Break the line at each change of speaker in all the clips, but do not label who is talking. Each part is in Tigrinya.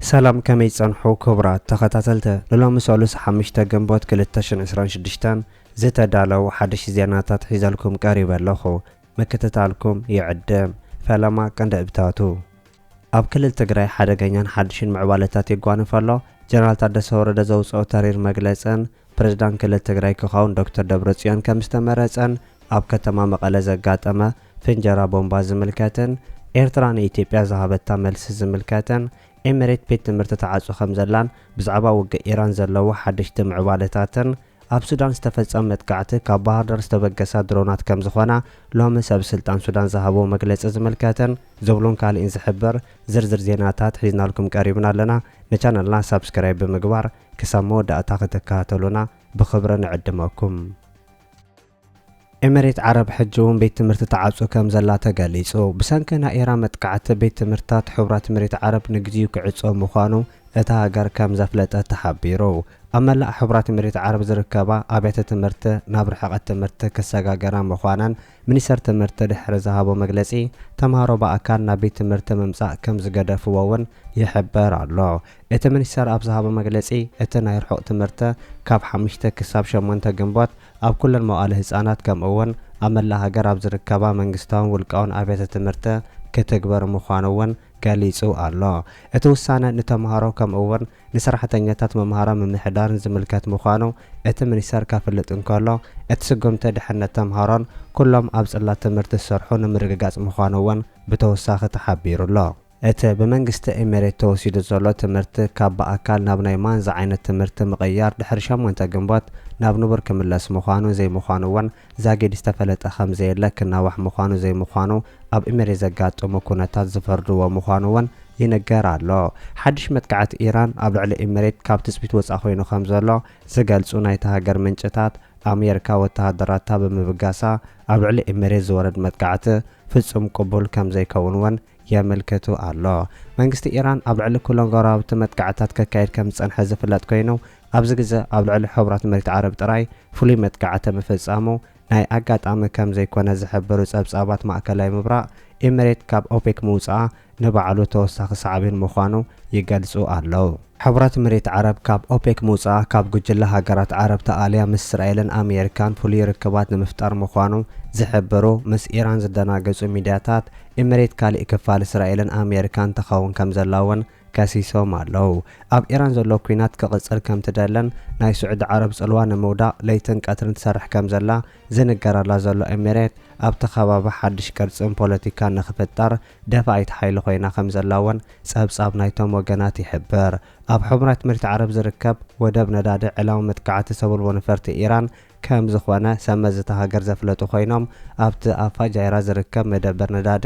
ሰላም ከመይ ትጸንሑ ክቡራት ተኸታተልቲ ንሎሚ ሰሉስ ሓምሽተ ግንቦት ክልተ ሽሕን ዕስራን ሽዱሽተን ዝተዳለው ሓድሽ ዜናታት ሒዘልኩም ቀሪበ ኣለኹ ምክትታልኩም ይዕድም ፈለማ ቀንዲእብታቱ ኣብ ክልል ትግራይ ሓደገኛን ሓድሽን ምዕባለታት ይጓንፍ ኣሎ ጀነራል ታደሰ ወረደ ዘውጽኦ ተሪር መግለጽን ፕሬዝዳንት ክልል ትግራይ ክኸውን ዶክተር ደብረፅዮን ከምዝተመረፀን ኣብ ከተማ መቐለ ዘጋጠመ ፍንጀራ ቦምባ ዝምልከትን ኤርትራ ንኢትዮጵያ ዝሃበታ መልሲ ዝምልከትን ኤሚሬት ቤት ትምህርቲ ትዓፁ ከምዘላን ብዛዕባ ውግእ ኢራን ዘለዎ ሓደሽቲ ምዕባለታትን ኣብ ሱዳን ዝተፈፀመ መጥቃዕቲ ካብ ባህርዳር ዝተበገሳ ድሮናት ከምዝኾና ሎሚ ሰብስልጣን ሱዳን ዝሃብዎ መግለፂ ዝምልከትን ዝብሉን ካሊእን ዝሕብር ዝርዝር ዜናታት ሒዝናልኩም ቀሪብና ኣለና ንቻነልና ሳብስክራይብ ብምግባር ክሳብ መወዳእታ ክትከታተሉና ብኽብሪ ንዕድመኩም። ኤመሬት ዓረብ ሕጂ'ውን ቤት ትምህርቲ ትዓጹ ከምዘላ ተገሊጹ። ብሰንኪ ናይ ኢራን መጥቃዕቲ ቤት ትምህርትታት ሕቡራት ኤመሬት ዓረብ ንግዚኡ ክዕጾ ምዃኑ እታ ሃገር ከምዘፍለጠት ተሓቢሩ። ኣብ መላእ ሕቡራት ኤመሬት ዓረብ ዝርከባ ኣብያተ ትምህርቲ ናብ ርሕቐት ትምህርቲ ክሰጋገራ ምዃነን ሚኒስተር ትምህርቲ ድሕሪ ዝሃቦ መግለጺ ተምሃሮ ብኣካል ናብ ቤት ትምህርቲ ምምጻእ ከምዝገደፍዎ'ውን ይሕበር ኣሎ። እቲ ሚኒስተር ኣብ ዝሃቦ መግለጺ፣ እቲ ናይ ርሑቕ ትምህርተ ካብ ሓምሽተ ክሳብ ሸሞንተ ግንቦት ኣብ ኩለን መዋእለ ህጻናት ከምኡ'ውን ኣብ መላእ ሃገር ኣብ ዝርከባ መንግስታውን ውልቃውን ኣብያተ ትምህርተ ክትግበር ምዃኑ'ውን ገሊጹ ኣሎ። እቲ ውሳነ ንተማሃሮ ከምኡ'ውን ንሰራሕተኛታት ምምሃራን ምምሕዳርን ዝምልከት ምዃኑ እቲ ሚኒስተር ከፍልጥ እንከሎ፣ እቲ ስጉምቲ ድሕነት ተምሃሮን ኩሎም ኣብ ጽላት ትምህርቲ ዝሰርሑ ንምርግጋጽ ምዃኑ'ውን ብተወሳኺ ተሓቢሩ'ሎ። እቲ ብመንግስቲ ኤሚሬት ተወሲዱ ዘሎ ትምህርቲ ካብ ብኣካል ናብ ናይ ማን ዝዓይነት ትምህርቲ ምቕያር ድሕሪ ሸሞንተ ግንቦት ናብ ንቡር ክምለስ ምዃኑ ዘይምዃኑ እውን ዛጊድ ዝተፈለጠ ከምዘየለ ክናዋሕ ምዃኑ ዘይምዃኑ ኣብ ኤሚሬት ዘጋጠሙ ኩነታት ዝፈርድዎ ምዃኑ እውን ይንገር ኣሎ። ሓድሽ መጥቃዕቲ ኢራን ኣብ ልዕሊ ኤሚሬት ካብ ትፅቢት ወፃእ ኮይኑ ከምዘሎ ዝገልፁ ናይታ ሃገር ምንጭታት ኣሜሪካ ወተሃደራታ ብምብጋሳ ኣብ ልዕሊ ኤሚሬት ዝወረድ መጥቃዕቲ ፍፁም ቅቡል ከምዘይከውን እውን የመልክቱ ኣሎ። መንግስቲ ኢራን ኣብ ልዕሊ ኩሎም ጎረባብቲ መጥቃዕትታት ከካይድ ከም ዝጸንሐ ዝፍለጥ ኮይኑ፣ ኣብዚ ግዘ ኣብ ልዕሊ ሕቡራት መሬት ዓረብ ጥራይ ፍሉይ መጥቃዕቲ ምፍጻሙ ናይ ኣጋጣሚ ከም ዘይኮነ ዝሕብሩ ጸብጻባት ማእከላይ ምብራቕ፣ ኢምሬት ካብ ኦፔክ ምውጽኣ ንባዕሉ ተወሳኺ ሳዕቤን ምዃኑ ይገልጹ ኣለዉ። ሕቡራት ኢሚሬት ዓረብ ካብ ኦፔክ ምውጽኣ ካብ ጉጅለ ሃገራት ዓረብ ተኣልያ ምስ እስራኤልን ኣሜሪካን ፍሉይ ርክባት ንምፍጣር ምዃኑ ዝሕብሩ ምስ ኢራን ዝደናገጹ ሚድያታት ኢሚሬት ካሊእ ክፋል እስራኤልን ኣሜሪካን ትኸውን ከምዘላ እውን ከሲሶም ኣለው። ኣብ ኢራን ዘሎ ኲናት ክቕጽል ከምትደልን ናይ ስዑዲ ዓረብ ጽልዋ ንምውዳቕ ለይትን ቀትርን ትሰርሕ ከምዘላ ዝንገረላ ዘሎ ኢሚሬት ኣብቲ ከባቢ ሓድሽ ቅርጽን ፖለቲካን ንኽፍጠር ደፋኢት ሓይሊ ኮይና ከምዘላ'ውን ጸብጻብ ናይቶም ወገናት ይሕብር። ኣብ ሕቡራት ምርት ዓረብ ዝርከብ ወደብ ነዳዲ ዕላዊ መጥቃዕቲ ሰብልቦ ነፈርቲ ኢራን ከምዝኾነ ሰብመዚ እታ ሃገር ዘፍለጡ ኮይኖም ኣብቲ ኣብ ፋጃይራ ዝርከብ መደበር ነዳዲ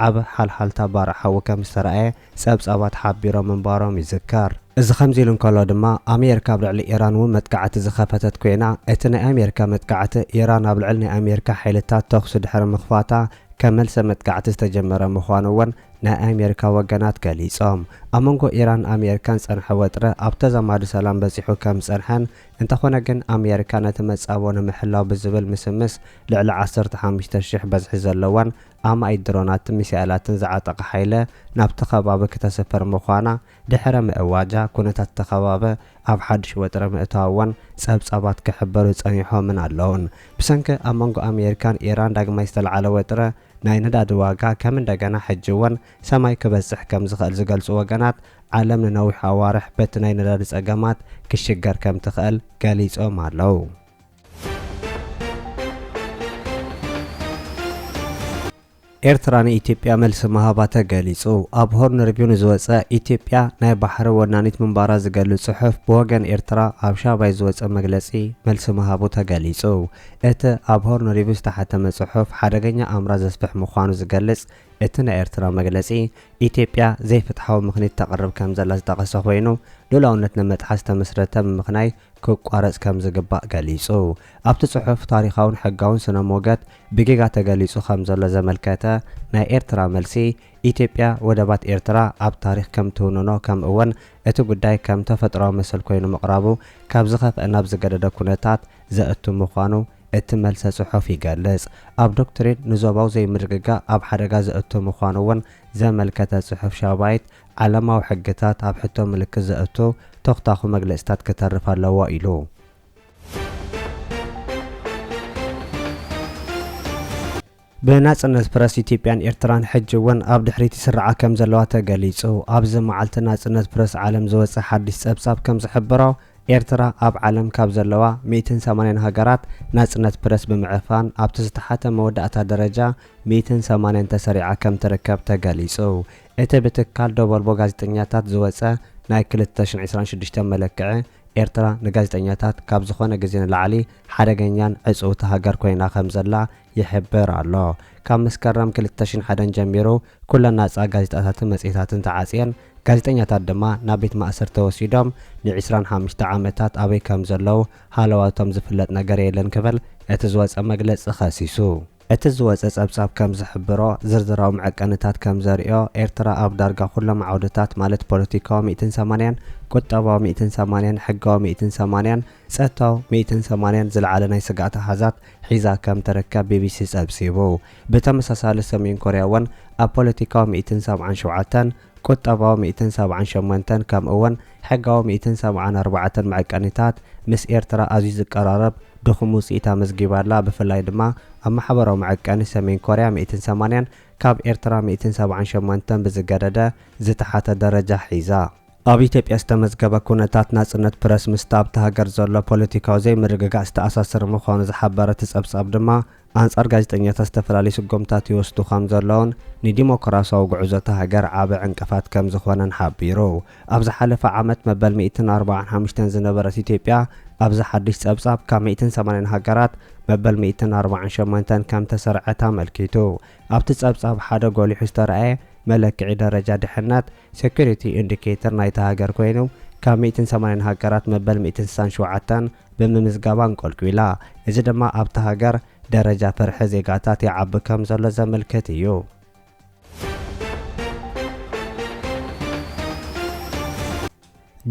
ዓቢ ሓልሓልታ ባርዕ ሓዊ ከምዝተራእየ ጸብጻባት ሓቢሮም ምንባሮም ይዝከር። እዚ ከምዚ ኢሉ እንከሎ ድማ ኣሜሪካ ኣብ ልዕሊ ኢራን'ውን መጥቃዕቲ ዝኸፈተት ኮይና እቲ ናይ ኣሜሪካ መጥቃዕቲ ኢራን ኣብ ልዕሊ ናይ ኣሜሪካ ሓይልታት ተኹሲ ድሕሪ ምኽፋታ ከም መልሰ መጥቃዕቲ ዝተጀመረ ምዃኑ እውን ናይ ኣሜሪካ ወገናት ገሊፆም። ኣብ መንጎ ኢራን ኣሜሪካን ዝፀንሐ ወጥሪ ኣብ ተዛማዲ ሰላም በፂሑ ከም ዝፀንሐን እንተኾነ ግን ኣሜሪካ ነቲ መፃብቦ ንምሕላው ብዝብል ምስምስ ልዕሊ ዓሰርተ ሓሙሽተ ሺሕ በዝሒ ዘለወን ኣማኢት ድሮናትን ሚሳኤላትን ዝዓጠቐ ሓይሊ ናብቲ ከባቢ ክተስፍር ምዃና ድሕረ ምእዋጃ ኩነታት እቲ ከባቢ ኣብ ሓድሽ ወጥሪ ምእታዉ'ውን ጸብጻባት ክሕብሩ ጸኒሖምን ኣለዉን። ብሰንኪ ኣብ መንጎ ኣሜሪካን ኢራን ዳግማይ ዝተልዓለ ወጥሪ ናይ ነዳዲ ዋጋ ከም እንደገና ሕጂ'ውን ሰማይ ክበጽሕ ከም ዝኽእል ዝገልጹ ወገናት፣ ዓለም ንነዊሕ ኣዋርሕ በቲ ናይ ነዳዲ ጸገማት ክሽገር ከም ትኽእል ገሊጾም ኣለዉ። ኤርትራ ንኢትዮጵያ መልሲ ምሃባ ተገሊጹ። ኣብ ሆርን ሪቪው ንዝወጸ ኢትዮጵያ ናይ ባሕሪ ወናኒት ምንባራ ዝገልጽ ጽሑፍ ብወገን ኤርትራ ኣብ ሻባይ ዝወጸ መግለጺ መልሲ ምሃቡ ተገሊጹ። እቲ ኣብ ሆርን ሪቪው ዝተሓተመ ጽሑፍ ሓደገኛ ኣምራት ዘስፍሕ ምዃኑ ዝገልጽ እቲ ናይ ኤርትራ መግለጺ፣ ኢትዮጵያ ዘይፍትሓዊ ምኽኒት ተቕርብ ከምዘላ ዝጠቐሰ ኮይኑ፣ ልኡላውነት ነመጥሓስ ዝተመስረተ ምምኽናይ ክቋረጽ ከምዝግባእ ገሊጹ። ኣብቲ ጽሑፍ ታሪኻውን ሕጋውን ስነ-ሞገት ብጌጋ ተገሊጹ ከም ዘሎ ዘመልከተ ናይ ኤርትራ መልሲ፣ ኢትዮጵያ ወደባት ኤርትራ ኣብ ታሪኽ ከም ትውንኖ ከምእውን እቲ ጉዳይ ከም ተፈጥሮኣዊ መሰል ኮይኑ ምቕራቡ ካብ ዝኸፍኣ ናብ ዝገደደ ኩነታት ዘእቱ ምዃኑ እቲ መልሰ ጽሑፍ ይገልጽ። ኣብ ዶክትሪን ንዞባዊ ዘይምርግጋእ ኣብ ሓደጋ ዘእቱ ምዃኑ'ውን ዘመልከተ ጽሑፍ ሻባይት፣ ዓለማዊ ሕግታት ኣብ ሕቶ ምልክት ዘእቱ ቶኽታዅ መግለጺታት ክተርፍ ኣለዎ ኢሉ። ብናጽነት ፕረስ ኢትዮጵያን ኤርትራን ሕጂ እውን ኣብ ድሕሪት ይስርዓ ከም ዘለዋ ተገሊጹ። ኣብዚ መዓልቲ ናጽነት ፕረስ ዓለም ዝወጸ ሓድሽ ጸብጻብ ከም ዝሕብሮ፣ ኤርትራ ኣብ ዓለም ካብ ዘለዋ ሚእትን ሰማንያን ሃገራት ናጽነት ፕረስ ብምዕፋን ኣብቲ ዝተሓተ መወዳእታ ደረጃ ሚእትን ሰማንያን ተሰሪዓ ከም ትርከብ ተገሊጹ። እቲ ብትካል ደቮልቮ ጋዜጠኛታት ዝወጸ ናይ ክልተ ሽሕን ዕስራን ሽዱሽተን መለክዒ፣ ኤርትራ ንጋዜጠኛታት ካብ ዝኾነ ግዜ ንላዕሊ ሓደገኛን ዕጽውቲ ሃገር ኮይና ከም ዘላ ይሕብር ኣሎ። ካብ መስከረም ክልተ ሽሕን ሓደን ጀሚሩ ኩለን ናጻ ጋዜጣታትን መጽሔታትን ተዓጽየን፣ ጋዜጠኛታት ድማ ናብ ቤት ማእሰርቲ ተወሲዶም ንዒስራን ሓሙሽተ ዓመታት ኣበይ ከም ዘለዉ ሃለዋቶም ዝፍለጥ ነገር የለን ክብል እቲ ዝወጸ መግለጺ ከሲሱ። እቲ ዝወጸ ጸብጻብ ከም ዝሕብሮ፣ ዝርዝራዊ መዐቀኒታት ከም ዘርእዮ፣ ኤርትራ ኣብ ዳርጋ ኩሎም ዓውድታት ማለት ፖለቲካዊ ሚእትን ሰማንያን፣ ቁጠባዊ ሚእትን ሰማንያን፣ ሕጋዊ ሚእትን ሰማንያን፣ ጸጥታዊ ሚእትን ሰማንያን ዝለዓለ ናይ ስግኣት ኣሃዛት ሒዛ ከም ትርከብ ቢቢሲ ጸብጺቡ። ብተመሳሳሊ ሰሜን ኮርያ እውን ኣብ ፖለቲካዊ ሚእትን ሰብዓን ሸውዓተን፣ ቁጠባዊ ሚእትን ሰብዓን ሸሞንተን ከምእውን ሕጋዊ ሚእትን ሰብዓን ኣርባዕተን መዐቀኒታት ምስ ኤርትራ ኣዝዩ ዝቀራረብ ድኹም ውጽኢት ኣመዝጊባ ኣላ ብፍላይ ድማ ኣብ ማሕበራዊ መዐቀኒ ሰሜን ኮርያ ሚእትን ሰማንያን ካብ ኤርትራ ሚእትን ሰብዓን ሸሞንተን ብዝገደደ ዝተሓተ ደረጃ ሒዛ ኣብ ኢትዮጵያ ዝተመዝገበ ኩነታት ናጽነት ፕረስ ምስቲ ኣብታ ሃገር ዘሎ ፖለቲካዊ ዘይምርግጋእ ዝተኣሳሰር ምዃኑ ዝሓበረ እቲ ጸብጻብ ድማ ኣንጻር ጋዜጠኛታት ዝተፈላለዩ ስጉምታት ይወስዱ ከም ዘለዉን ንዲሞክራስያዊ ጉዕዞ እታ ሃገር ዓቢ ዕንቅፋት ከም ዝኾነን ሓቢሩ። ኣብ ዝሓለፈ ዓመት መበል ሚእትን ኣርብዓን ሓሙሽተን ዝነበረት ኢትዮጵያ ኣብዚ ሓድሽ ጸብጻብ ካብ ሚእትን ሰማንያን ሃገራት መበል ሚእትን ኣርብዓን ሸሞንተን ከም ተሰርዐት ኣመልኪቱ። ኣብቲ ጸብጻብ ሓደ ጎሊሑ ዝተራእየ መለክዒ ደረጃ ድሕነት፣ Security Indicator፣ ናይታ ሃገር ኮይኑ፣ ካብ ሚእትን ሰማንያን ሃገራት መበል ሚእትን ስሳን ሸውዓተን ብምምዝጋባ ኣንቆልቊላ። እዚ ድማ ኣብታ ሃገር ደረጃ ፍርሒ ዜጋታት ይዓቢ ከም ዘሎ ዘምልክት እዩ።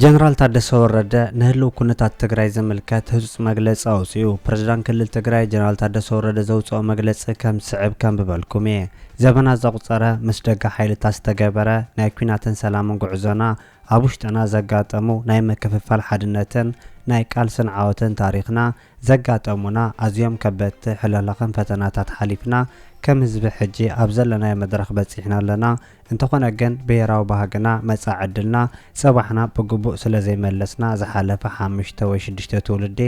ጀነራል ታደሰ ወረደ ንህልው ኩነታት ትግራይ ዝምልከት ህፁፅ መግለፂ ኣውፂኡ። ፕሬዝዳንት ክልል ትግራይ ጀነራል ታደሰ ወረደ ዘውፀኦ መግለፂ ከም ዝስዕብ ከንብበልኩም እየ። ዘበናት ዘቑፀረ ምስ ደገ ሓይልታት ዝተገበረ ናይ ኲናትን ሰላምን ጉዕዞና ኣብ ውሽጥና ዘጋጠሙ ናይ ምክፍፋል ሓድነትን ናይ ቃልስን ዓወትን ታሪኽና ዘጋጠሙና ኣዝዮም ከበድቲ ሕልኽላኽን ፈተናታት ሓሊፍና ከም ህዝቢ ሕጂ ኣብ ዘለናዮ መድረኽ በፂሕና ኣለና። እንተኾነ ግን ብሄራዊ ባህግና፣ መጻኢ ዕድልና፣ ጽባሕና ብግቡእ ስለዘይመለስና ዝሓለፈ ሓምሽተ ወይ ሽዱሽተ ትውልዲ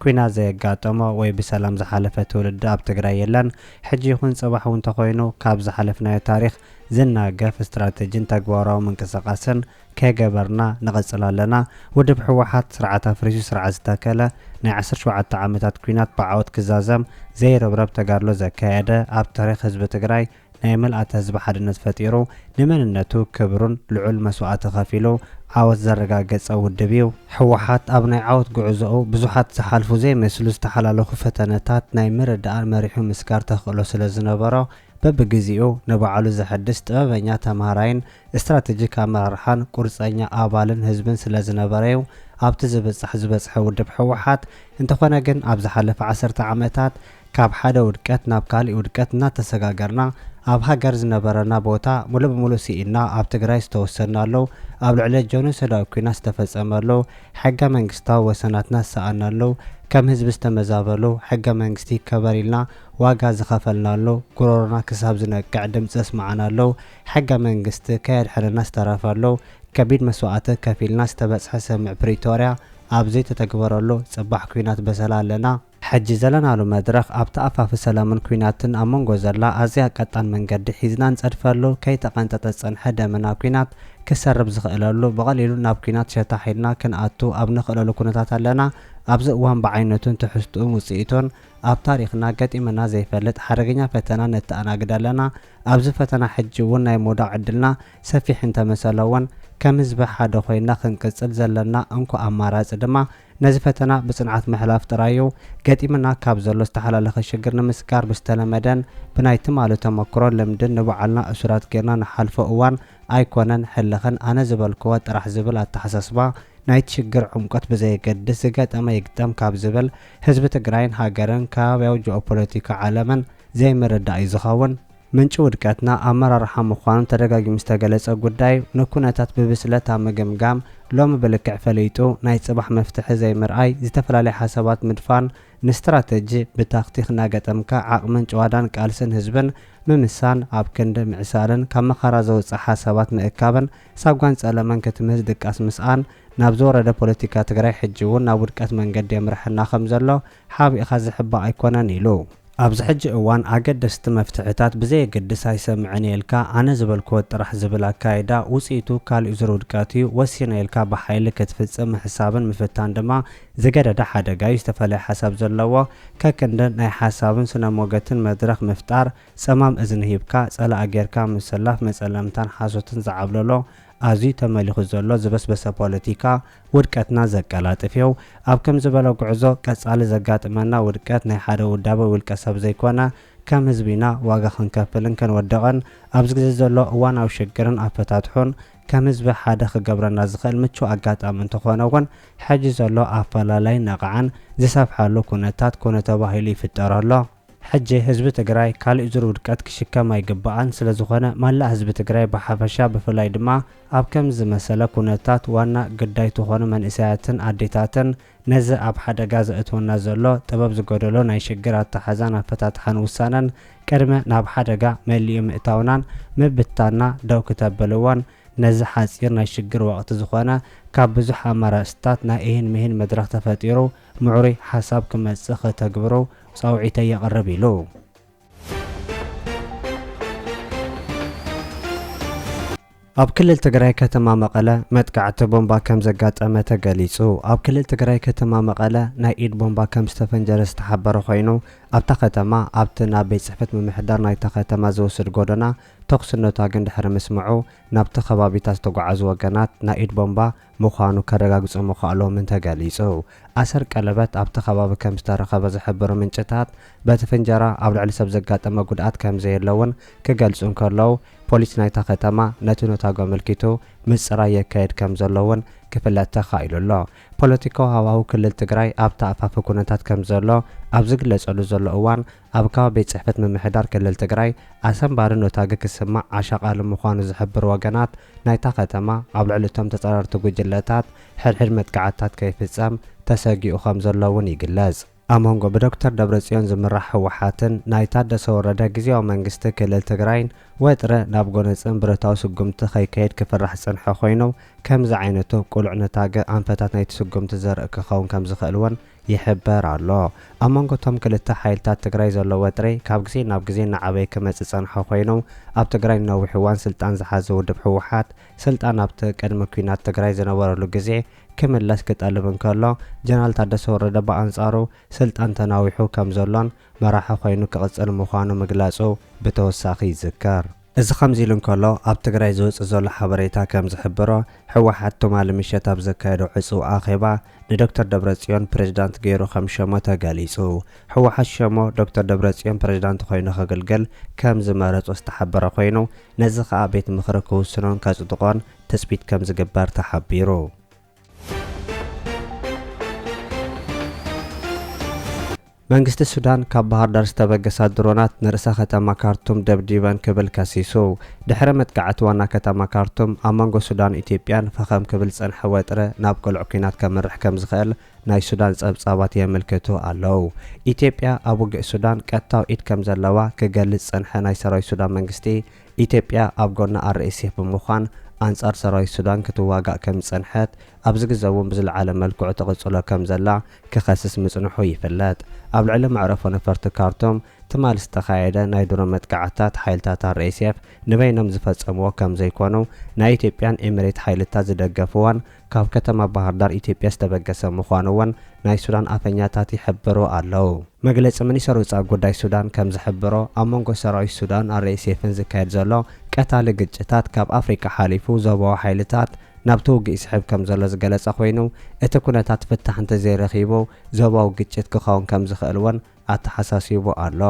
ኩናት ዘየጋጠሞ ወይ ብሰላም ዝሓለፈ ትውልዲ ኣብ ትግራይ የለን። ሕጂ ይኹን ጽባሕ እውን ተኾይኑ ካብ ዝሓለፍናዮ ታሪኽ ዝናገፍ ስትራተጂን ተግባራዊ ምንቅስቓስን ከይገበርና ንቕጽል ኣለና። ውድብ ህወሓት ስርዓት ኣፍሪሱ ስርዓት ዝተከለ፣ ናይ ዓሰርተ ሸውዓተ ዓመታት ኩናት ብዓወት ክዛዘም ዘይርብረብ ተጋድሎ ዘካየደ ኣብ ታሪኽ ህዝቢ ትግራይ ናይ ምልኣተ ህዝቢ ሓድነት ፈጢሩ ንመንነቱ ክብሩን ልዑል መስዋእቲ ከፊሉ ዓወት ዘረጋገጸ ውድብ እዩ። ህወሓት ኣብ ናይ ዓወት ጉዕዞኡ ብዙሓት ዝሓልፉ ዘይመስሉ ዝተሓላለኹ ፈተነታት ናይ ምርዳእን መሪሑ ምስጋር ተኽእሎ ስለ ዝነበሮ በብግዜኡ ንባዕሉ ዘሐድስ ጥበበኛ ተምሃራይን እስትራተጂክ ኣመራርሓን ቁርጸኛ ኣባልን ህዝብን ስለ ዝነበረ'ዩ ኣብቲ ዝብጻሕ ዝበጽሐ ውድብ ህወሓት እንተኾነ ግን ኣብ ዝሓለፈ ዓሰርተ ዓመታት ካብ ሓደ ውድቀት ናብ ካሊእ ውድቀት እናተሰጋገርና ኣብ ሃገር ዝነበረና ቦታ ሙሉእ ብሙሉእ ስኢንና ኣብ ትግራይ ዝተወሰድናሉ ኣብ ልዕለ ጆኖሶዳዊ ኩናት ዝተፈፀመሉ ሕገ መንግስታዊ ወሰናትና ዝሰኣንናሉ ከም ህዝቢ ዝተመዛበሉ ሕገ መንግስቲ ይከበር ኢልና ዋጋ ዝኸፈልናሉ ጉሮሮና ክሳብ ዝነቅዕ ድምፂ ዘስመዓናሉ ሕገ መንግስቲ ከየድሐነና ዝተረፈሉ ከቢድ መስዋእቲ ከፊልና ዝተበፅሐ ሰምምዕ ፕሪቶርያ ኣብ ዘይተተግበረሉ ፅባሕ ኩናት በሰላ ኣለና ሕጂ ዘለናሉ መድረኽ ኣብታ ኣፋፊ ሰለምን ኩናትን ኣብ መንጎ ዘላ ኣዝያ ቀጣን መንገዲ ሒዝና ንጸድፈሉ ከይተቐንጠጠ ዝጸንሐ ደመና ኩናት ክሰርብ ዝኽእለሉ ብቐሊሉ ናብ ኩናት ሸታሕ ኢልና ክንኣቱ ኣብ ንኽእለሉ ኩነታት ኣለና ኣብዚ እዋን ብዓይነቱን ትሕዝትኡን ውጽኢቱን ኣብ ታሪኽና ገጢሙና ዘይፈልጥ ሓደገኛ ፈተና ነተኣናግድ ኣለና ኣብዚ ፈተና ሕጂ እውን ናይ ምውዳቕ ዕድልና ሰፊሕ እንተመሰለውን ከም ህዝቢ ሓደ ኮይና ክንቅጽል ዘለና እንኮ ኣማራጺ ድማ ነዚ ፈተና ብፅንዓት ምሕላፍ ጥራይ እዩ። ገጢምና ካብ ዘሎ ዝተሓላለኸ ሽግር ንምስጋር ብዝተለመደን ብናይ ትማሊ ተመክሮን ልምድን ንባዕልና እሱራት ገይርና ንሓልፎ እዋን ኣይኮነን። ሕልኽን ኣነ ዝበልክዎ ጥራሕ ዝብል ኣተሓሳስባ ናይቲ ሽግር ዕምቆት ብዘየገድስ ዝገጠመ ይግጠም ካብ ዝብል ህዝቢ ትግራይን ሃገርን ከባብያዊ ጂኦፖለቲካ ዓለምን ዘይምርዳእ እዩ ዝኸውን። ምንጪ ውድቀትና ኣመራርሓ ምዃኑ ተደጋጊሙ ዝተገለጸ ጉዳይ፣ ንኩነታት ብብስለት ኣብ ምግምጋም፣ ሎሚ ብልክዕ ፈሊጡ ናይ ጽባሕ መፍትሒ ዘይምርኣይ፣ ዝተፈላለየ ሓሳባት ምድፋን፣ ንስትራተጂ ብታክቲክ እናገጠምካ ዓቕምን ጭዋዳን ቃልስን ህዝብን ምምሳን፣ ኣብ ክንዲ ምዕሳልን ካብ መኸራ ዘውጽእ ሓሳባት ምእካብን ሳጓን ጸለመን ክትምህዝ ድቃስ ምስኣን፣ ናብ ዝወረደ ፖለቲካ ትግራይ ሕጂ'ውን ናብ ውድቀት መንገዲ የምርሐና ከምዘሎ ሓቢእኻ ዝሕባእ ኣይኮነን ኢሉ። ኣብዚ ሕጂ እዋን ኣገደስቲ መፍትሕታት ብዘየገድስ ኣይሰምዕን እየ ኢልካ ኣነ ዝበልክዎ ጥራሕ ዝብል ኣካይዳ ውጽኢቱ ካሊእ ዙር ውድቀት እዩ፣ ወሲነ ኢልካ ብሓይሊ ክትፍጽም ምሕሳብን ምፍታን ድማ ዝገደደ ሓደጋ እዩ፣ ዝተፈለየ ሓሳብ ዘለዎ ከክንዲ ናይ ሓሳብን ስነሞገትን መድረኽ ምፍጣር፣ ጸማም እዝኒ ሂብካ ጸላኢ ጌርካ ምስላፍ መጸለምታን ሓሶትን ዝዓብለሎ ኣዝዩ ተመሊኹ ዘሎ ዝበስበሰ ፖለቲካ ውድቀትና ዘቀላጥፍዮ። ኣብ ከምዚ ዝበለ ጉዕዞ ቀጻሊ ዘጋጥመና ውድቀት ናይ ሓደ ውዳበ ውልቀ ሰብ ዘይኮነ ከም ህዝቢ ኢና ዋጋ ክንከፍልን ክንወድቕን። ኣብዚ ግዜ ዘሎ እዋናዊ ሽግርን ኣፈታትሑን ከም ህዝቢ ሓደ ክገብረና ዝኽእል ምቹእ ኣጋጣሚ እንተኾነ እውን ሕጂ ዘሎ ኣፈላላይ ነቕዓን ዝሰፍሓሉ ኩነታት ኮነ ተባሂሉ ይፍጠር ኣሎ። ሕጂ ህዝቢ ትግራይ ካሊእ ዙር ውድቀት ክሽከም ኣይግባኣን ስለዝኾነ ማላእ ህዝቢ ትግራይ ብሓፈሻ ብፍላይ ድማ ኣብ ከምዚ ዝመሰለ ኩነታት ዋና ግዳይ ትኾኑ መንእሰያትን ኣዴታትን ነዚ ኣብ ሓደጋ ዘእትወና ዘሎ ጥበብ ዝጎደሎ ናይ ሽግር ኣታሓዛን ኣፈታትሓን ውሳነን ቅድሚ ናብ ሓደጋ መሊኡ ምእታውናን ምብትታንና ደው ክተብልዎን ነዚ ሓፂር ናይ ሽግር ወቅቲ ዝኾነ ካብ ብዙሕ ኣማራፅታት ናይ እሂን ምሂን መድረኽ ተፈጢሩ ምዕሩይ ሓሳብ ክመጽእ ከተግብሮ ጻውዒተይ የቕርብ ኢሉ። ኣብ ክልል ትግራይ ከተማ መቐለ መጥቃዕቲ ቦምባ ከም ዘጋጠመ ተገሊጹ። ኣብ ክልል ትግራይ ከተማ መቐለ ናይ ኢድ ቦምባ ከም ዝተፈንጀረ ዝተሓበረ ኮይኑ፣ ኣብታ ከተማ ኣብቲ ናብ ቤት ጽሕፈት ምምሕዳር ናይታ ከተማ ዝወስድ ጎደና ተኹሲ ነቷግን ድሕሪ ምስምዑ ናብቲ ከባቢታት ዝተጓዓዙ ወገናት ናይ ኢድ ቦምባ ምዃኑ ከረጋግጹ ምኽኣሎምን ተገሊጹ። ኣሰር ቀለበት ኣብቲ ከባቢ ከም ዝተረኸበ ዝሕብሩ ምንጭታት፣ በቲ ፍንጀራ ኣብ ልዕሊ ሰብ ዘጋጠመ ጉድኣት ከም ዘየለ እውን ክገልጹ እንከለዉ፣ ፖሊስ ናይታ ከተማ ነቲ ነታጒ ኣመልኪቱ ምጽራይ የካይድ ከም ዘሎ እውን ክፍለጥ ተኻኢሉ ኣሎ። ፖለቲካዊ ሃዋህው ክልል ትግራይ ኣብ ተኣፋፊ ኩነታት ከም ዘሎ ኣብ ዝግለጸሉ ዘሎ እዋን፣ ኣብ ካባ ቤት ፅሕፈት ምምሕዳር ክልል ትግራይ ኣሰንባሪ ኖታግ ክስማዕ ኣሻቓሊ ምዃኑ ዝሕብሩ ወገናት ናይታ ከተማ ኣብ ልዕሊ እቶም ተፃረርቲ ጉጅለታት ሕድሕድ መጥቃዕትታት ከይፍፀም ተሰጊኡ ከምዘሎ እውን ይግለፅ። ኣብ መንጎ ብዶክተር ደብረፅዮን ዝምራሕ ህወሓትን ናይ ታደሰ ወረደ ግዝያዊ መንግስቲ ክልል ትግራይን ወጥሪ ናብ ጎነፅን ብረታዊ ስጉምቲ ከይካየድ ክፍራሕ ዝፀንሐ ኮይኑ ከምዚ ዓይነቱ ቅሉዕ ኖታግ ኣንፈታት ናይቲ ስጉምቲ ዘርኢ ክኸውን ከምዝኽእል እውን ይሕበር ኣሎ። ኣብ መንጎ እቶም ክልተ ሓይልታት ትግራይ ዘሎ ወጥሪ ካብ ግዜ ናብ ግዜ እናዓበየ ክመጽእ ዝጸንሐ ኮይኑ፣ ኣብ ትግራይ ንነዊሕ እዋን ስልጣን ዝሓዘ ውድብ ህወሓት፣ ስልጣን ኣብቲ ቅድሚ ኲናት ትግራይ ዝነበረሉ ግዜ ክምለስ ክጠልብ እንከሎ፣ ጀነራል ታደሰ ወረደ ብኣንጻሩ ስልጣን ተናዊሑ ከምዘሎን መራሒ ኮይኑ ክቕጽል ምዃኑ ምግላጹ ብተወሳኺ ይዝከር። እዚ ከምዚ ኢሉ እንከሎ፣ ኣብ ትግራይ ዝወጽእ ዘሎ ሓበሬታ ከም ዝሕብሮ፣ ህወሓት ትማሊ ምሸት ኣብ ዘካየዶ ዕጹው ኣኼባ፣ ንዶክተር ደብረጽዮን ፕሬዝዳንት ገይሩ ከም ሸሞ ተገሊጹ። ህወሓት ሸሞ ዶክተር ደብረጽዮን ፕሬዝዳንት ኮይኑ ከግልግል ከም ዝመረጾ ዝተሓበረ ኮይኑ፣ ነዚ ከኣ ቤት ምኽሪ ክውስኖን ከጽድቖን ትጽቢት ከም ዝግበር ተሓቢሩ። መንግስቲ ሱዳን ካብ ባህርዳር ዝተበገሳ ድሮናት ንርእሰ ከተማ ካርቱም ደብዲበን ክብል ከሲሱ። ድሕሪ መጥቃዕቲ ዋና ከተማ ካርቱም ኣብ መንጎ ሱዳን ኢትዮጵያን ፈኸም ክብል ዝጸንሐ ወጥረ ናብ ቅሉዕ ኲናት ከምርሕ ከምዝኽእል ናይ ሱዳን ጸብጻባት የመልክቱ ኣለው። ኢትዮጵያ ኣብ ውግእ ሱዳን ቀጥታዊ ኢድ ከምዘለዋ ክገልጽ ዝጸንሐ ናይ ሰራዊት ሱዳን መንግስቲ ኢትዮጵያ ኣብ ጎኒ RSF ብምዃን ኣንጻር ሰራዊት ሱዳን ክትዋጋእ ከም ዝጸንሐት፣ ኣብዚ ግዘ'ውን ብዝለዓለ መልክዑ ትቕጽሎ ከም ዘላ ክኸስስ ምጽንሑ ይፍለጥ። ኣብ ልዕሊ መዕረፎ ነፈርቲ ካርቱም ትማሊ ዝተኻየደ ናይ ድሮን መጥቃዕትታት ሓይልታት RSF ንበይኖም ዝፈጸምዎ ከም ዘይኮኑ ናይ ኢትዮጵያን ኤሚሬት ሓይልታት ዝደገፍዋን ካብ ከተማ ባህርዳር ኢትዮጵያ ዝተበገሰ ምዃኑ እውን ናይ ሱዳን ኣፈኛታት ይሕብሩ ኣለው። መግለጺ ሚኒሰር ወጻኢ ጉዳይ ሱዳን ከም ዝሕብሮ ኣብ መንጎ ሰራዊት ሱዳን RSFን ዝካየድ ዘሎ ቀታሊ ግጭታት ካብ ኣፍሪቃ ሓሊፉ ዞባዊ ሓይልታት ናብቲ ውግእ ይስሕብ ከም ዘሎ ዝገለጸ ኮይኑ እቲ ኩነታት ፍታሕ እንተዘይረኺቡ ዞባዊ ግጭት ክኸውን ከም ዝኽእል እውን ኣተሓሳሲቡ ኣሎ።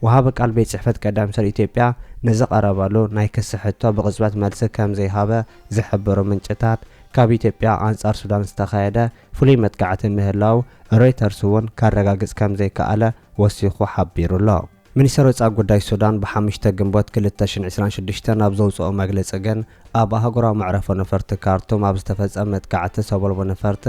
ወሃቢ ቃል ቤት ጽሕፈት ቀዳማይ ሚኒስተር ኢትዮጵያ ንዝቐረበሉ ናይ ክሲ ሕቶ ብቕጽበት መልሲ ከም ዘይሃበ ዝሕብሩ ምንጭታት፣ ካብ ኢትዮጵያ ኣንጻር ሱዳን ዝተኻየደ ፍሉይ መጥቃዕቲ ምህላዉ ሮይተርስ'ውን ከረጋግጽ ከም ዘይከኣለ ወሲኹ ሓቢሩ'ሎ። ሚኒስተር ወጻኢ ጉዳይ ሱዳን ብሓሙሽተ ግንቦት ክልተ ሽሕን ዕስራን ሽዱሽተን ኣብ ዘውጽኦ መግልጺ ግን፣ ኣብ ኣህጉራዊ መዕረፎ ነፈርቲ ካርቱም ኣብ ዝተፈጸመ መጥቃዕቲ ሰበልቦ ነፈርቲ፣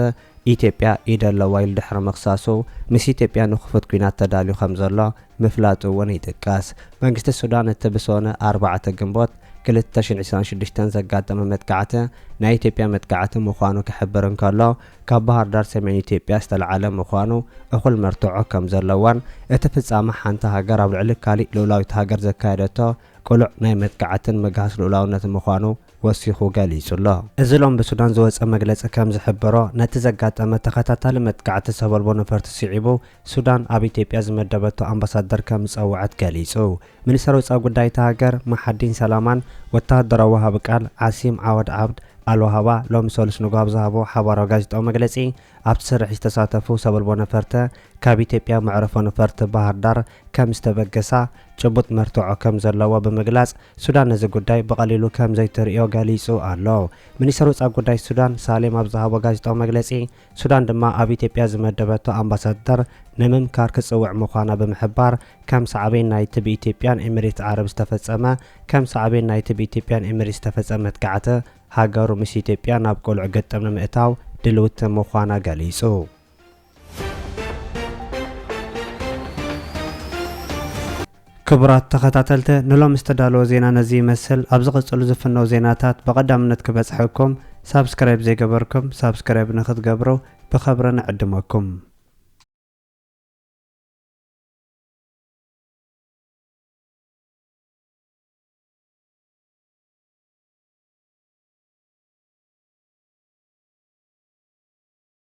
ኢትዮጵያ ኢድ ኣለዋ ኢሉ ድሕሪ ምኽሳሱ፣ ምስ ኢትዮጵያ ንክፉት ኲናት ተዳልዩ ከምዘሎ ምፍላጡ እውን ይጥቀስ። መንግስቲ ሱዳን እቲ ብሰኑ ኣርባዕተ ግንቦት ክልተ ሽሕን ዒስራን ሽዱሽተን ዘጋጠመ መጥቃዕቲ ናይ ኢትዮጵያ መጥቃዕቲ ምዃኑ ክሕብር እንከሎ፣ ካብ ባህርዳር ሰሜን ኢትዮጵያ ዝተልዓለ ምዃኑ እኹል መርትዖ ከምዘለዎን እቲ ፍጻመ ሓንቲ ሃገር ኣብ ልዕሊ ካሊእ ልኡላዊት ሃገር ዘካየደቶ ቅሉዕ ናይ መጥቃዕትን ምግሃስ ልኡላውነትን ምዃኑ ወሲኹ ገሊጹ'ሎ። እዚ ሎሚ ብሱዳን ዝወጸ መግለጺ ከም ዝሕብሮ፣ ነቲ ዘጋጠመ ተኸታታሊ መጥቃዕቲ ሰበልቦ ነፈርቲ ስዒቡ፣ ሱዳን ኣብ ኢትዮጵያ ዝመደበቶ ኣምባሳደር ከም ዝጸውዐት ገሊጹ። ሚኒስተር ወጻኢ ጉዳይ እታ ሃገር ማሓዲን ሰላማን ወተሃደራዊ ወሃቢ ቃል ዓሲም ዓወድ ዓብድ ኣልዋሃባ ሎሚ ሰሉስ ንግሆ ኣብ ዝሃቦ ሓባራዊ ጋዜጣዊ መግለጺ፣ ኣብቲ ስርሒት ዝተሳተፉ ሰበልቦ ነፈርተ ካብ ኢትዮጵያ መዕረፎ ነፈርቲ ባህርዳር ከም ዝተበገሳ ጭቡጥ መርትዖ ከም ዘለዎ ብምግላጽ፣ ሱዳን ነዚ ጉዳይ ብቐሊሉ ከም ዘይትርእዮ ገሊጹ ኣሎ። ሚኒስተር ወጻኢ ጉዳይ ሱዳን ሳሌም ኣብ ዝሃቦ ጋዜጣዊ መግለጺ፣ ሱዳን ድማ ኣብ ኢትዮጵያ ዝመደበቶ ኣምባሳደር ንምምካር ክትጽውዕ ምዃና ብምሕባር፣ ከም ሳዕቤን ናይቲ ብኢትዮጵያን ኤሚሬትስ ዓረብ ዝተፈጸመ ከም ሳዕቤን ናይቲ ብኢትዮጵያን ኤሚሬትስ ዝተፈጸመ መጥቃዕቲ፣ ሃገሩ ምስ ኢትዮጵያ ናብ ቅሉዕ ግጥም ንምእታው ድልውቲ ምዃና ገሊጹ። ክቡራት ተኸታተልተ ንሎም ዝተዳለወ ዜና ነዚ ይመስል ኣብ ዝቕጽሉ ዝፍነው ዜናታት ብቐዳምነት ክበጽሐኩም ሳብስክራይብ ዘይገበርኩም ሳብስክራይብ ንክትገብሩ ብኸብረ ንዕድመኩም